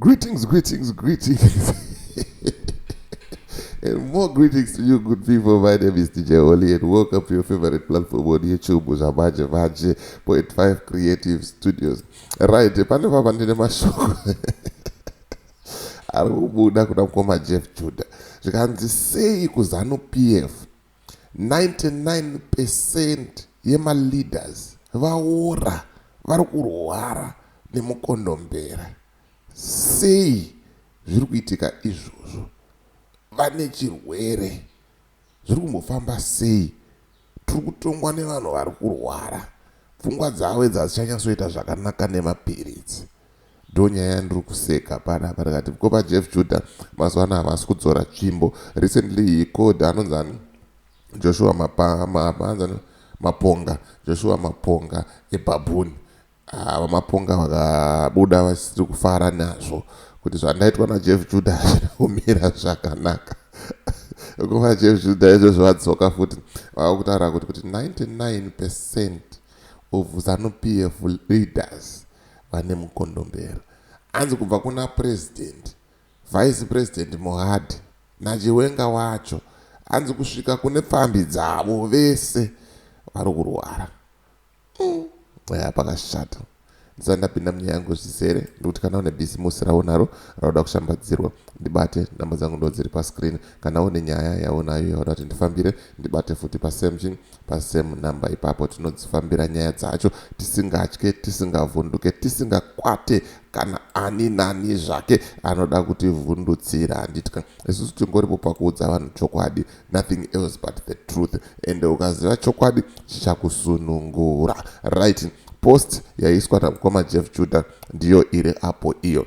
Greetings, greetings, greetings. and more greetings to you, good people. My name is DJ Oli, and welcome to your favorite platform on YouTube, Uzamaje Vaje, 0.5 Creative Studios. Right, pano papa ndine mashoko ari kubuda kuna mukoma jeff juda zvikanzi sei kuzanu pf 99 percent yema leaders vaora vari kurwara nemukondombera sei zviri kuitika izvozvo vane chirwere zviri kumbofamba sei tiri kutongwa nevanhu vari kurwara pfungwa dzavo idzi hadzichanyatsoita zvakanaka nemapiritsi Ndonyaya yandiri kuseka panapa ndikati ko vaJeff Judah mazuva ano havasi kudzora tsvimbo recently he called anonzani Joshua mapa, mapa, anzani maponga Joshua maponga ebabuni ah, vamaponga vakabuda vasiri kufara nazvo kuti zvandaitwa naJeff Judah hazvina kumira zvakanaka kuva Jeff Judah izvozvo vadzoka futi vava kutaura kuti kuti 99 percent of zanu PF leaders vane mukondombera hanzi kubva kuna president, vice president Mohadi naChiwenga wacho hanzi kusvika kune pfambi dzavo vese vari kurwara. Mm. Eya pakashata. Ndisati ndapinda munyaya yangu zvizere ndikuti kana une bhisimusi raunaro rauda kushambadzirwa ndibate namba dzangu ndo dziri pascreen kana une nyaya yaunayo yauda kuti ndifambire ndibate futi pasemchin Pa same number ipapo tinodzifambira nyaya dzacho tisingatye, tisingavhunduke, tisingakwate kana ani nani zvake anoda kutivhundutsira. Handitya. Isusu tingoripo pakuudza vanhu chokwadi, nothing else but the truth. Ende ukaziva chokwadi chichakusunungura. Right. Post yaiswa na mkoma Jeff Judah ndiyo iri apo iyo.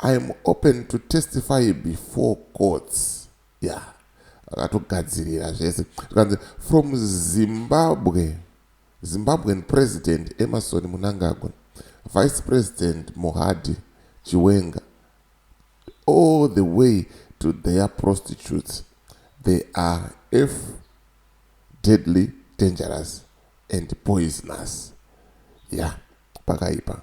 I am open to testify before courts yeah akatogadzirira zvese zvikanzi from zimbabwe zimbabwean president emerson munangagwa vice president mohadi chiwenga all the way to their prostitutes they are f deadly dangerous and poisonous ya yeah, pakaipa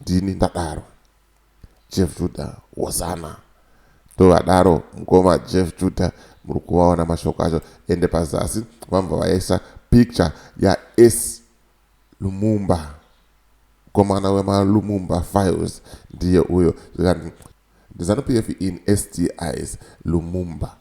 Ndini ndadaro Jeff Judah Hosanna ndovadaro mkoma Jeff Judah muri kuvaona mashoko acho ende pazasi vambva vaisa picture ya S Lumumba mkomana wema Lumumba files ndiye uyo zvikanzi ndiZanu PF in SDIs Lumumba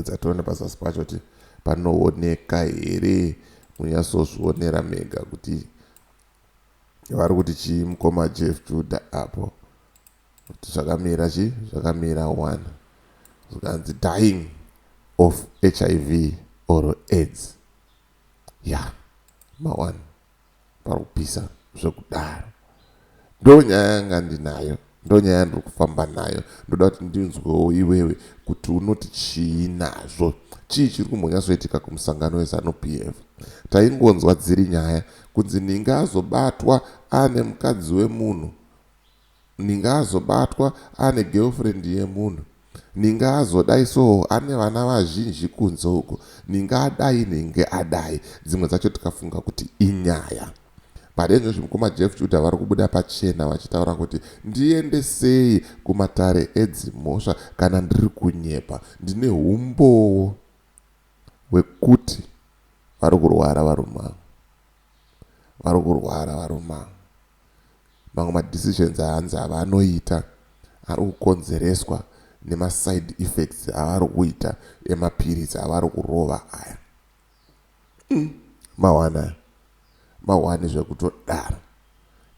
dzationa pazasi pacho kuti panooneka here munyasozvionera mega kuti vari kuti chii mukoma jeff juda apo kuti zvakamira chii zvakamira one zvikanzi dying of hiv or aids ya yeah. maone pari kupisa zvekudaro ndo nyaya yanga ndinayo Ndonyaya yandiri kufamba nayo ndoda kuti ndinzwewo iwewe kuti unoti chii nazvo. Chii chiri kumbonyatsoitika kumusangano weZanu PF? Taingonzwa dziri nyaya kunzi Ninga azobatwa ane mukadzi wemunhu, Ninga azobatwa ane girlfriend yemunhu, Ninga azodai soo ane vana vazhinji kunze uko, Ninga adai Ninga adai. Dzimwe dzacho tikafunga kuti inyaya. Pari izvozvi mukoma Jeff Judah vari kubuda pachena vachitaura kuti ndiende sei kumatare edzimhosva kana ndiri kunyepa. Ndine humbowo hwekuti vari kurwara varume ava. Vari kurwara varume ava. Mamwe madecisions ahanzi avanoita ari kukonzereswa nemaside effects avari kuita emapiritsi avari kurova aya. Umm mawana aya mahwani zvekutodaro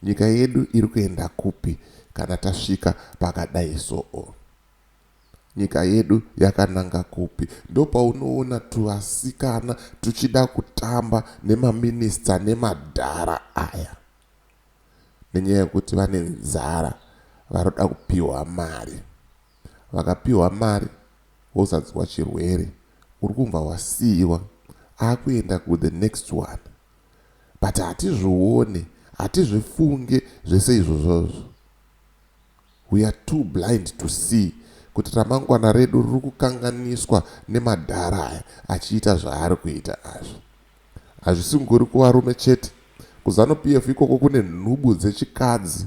nyika yedu iri kuenda kupi kana tasvika pakadai soo nyika yedu yakananga kupi ndopaunoona tuvasikana tuchida kutamba nemaminister nemadhara aya nenyaya yekuti vane nzara varoda kupihwa mari. Vakapihwa mari vozadzwa chirwere urikunva wasiiwa akuenda ku the next one but hatizvione hatizvifunge zvese izvozvozvo we are too blind to see kuti ramangwana redu ririkukanganiswa nemadhara aya achiita zvaari kuita azvi hazvisingori kuvarume chete kuzanupf ikoko kune nhubu dzechikadzi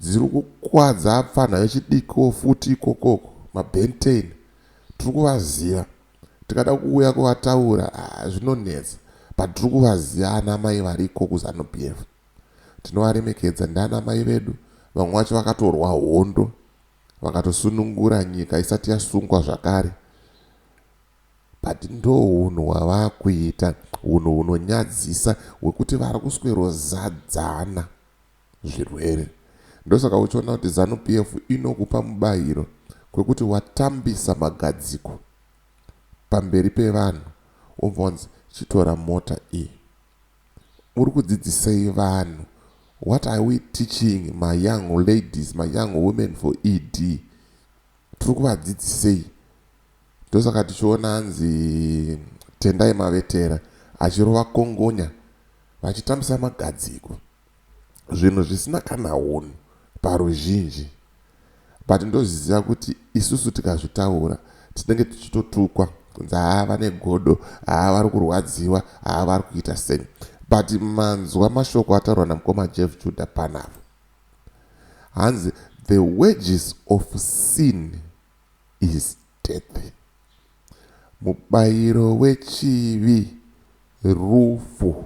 Dziri kukwadza apfanha vechidikoo futi ikokoko mabentain tiri kuvaziva tikada kuuya kuvataura haa zvinonetsa but tiri kuvaziva ana mai variko kuzanu PF tinovaremekedza ndiana mai vedu vamwe vacho vakatorwa hondo vakatosunungura nyika isati yasungwa zvakare but ndohunhu hwavakuita hunhu hunonyadzisa hwekuti vari kuswerozadzana zvirwere ndosaka uchiona kuti zanu PF inokupa mubairo kwekuti watambisa magadziko pamberi pevanhu wobva wanzi chitora mota iyi uri kudzidzisei vanhu what are we teaching my young ladies my young women for ED tiri kuvadzidzisei ndosaka tichiona hanzi Tendai Mavetera achirova kongonya vachitambisa magadziko zvinhu zvisina kana hunhu paruzhinji but ndozviziva kuti isusu tikazvitaura tinenge tichitotukwa kunzi haa vane godo haa vari kurwadziwa haa vari kuita sei but manzwa mashoko ataurwa namukoma jeff juda panapa hanzi the wages of sin is death mubayiro wechivi rufu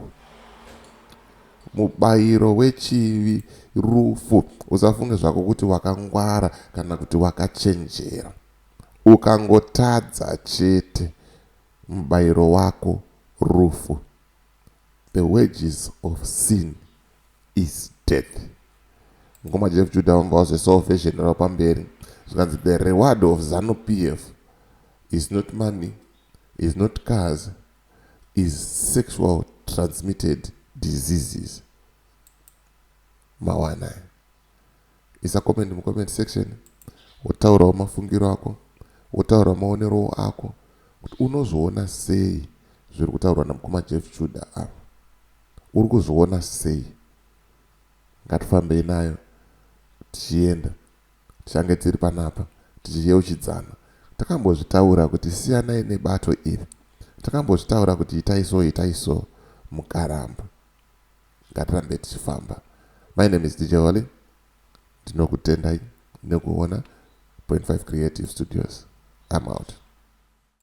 mubayiro wechivi rufu usafunge zvako kuti wakangwara kana kuti wakachenjera ukangotadza chete mubayiro wako rufu the wages of sin is death. Mkoma Jeff Judah vanga vazve salvation ravo pamberi zvikanzi the reward of Zanu PF is not money, is not cars, is sexual transmitted diseases. Mawana. isa comment mucomment section wotaurawo mafungiro ako wotaura maonerowo ako kuti unozviona sei zviri kutaurwa namukoma jeff chuda ava uri kuzviona sei ngatifambei nayo tichienda tichange tiri panapa tichiyeuchidzana takambozvitaura kuti siyanai nebato iri takambozvitaura kuti itai so itai so mukaramba Ngatirambe tichifamba. My name is DJ Holly. Ndinokutendai nekuona Point 5 Creative Studios. I'm out.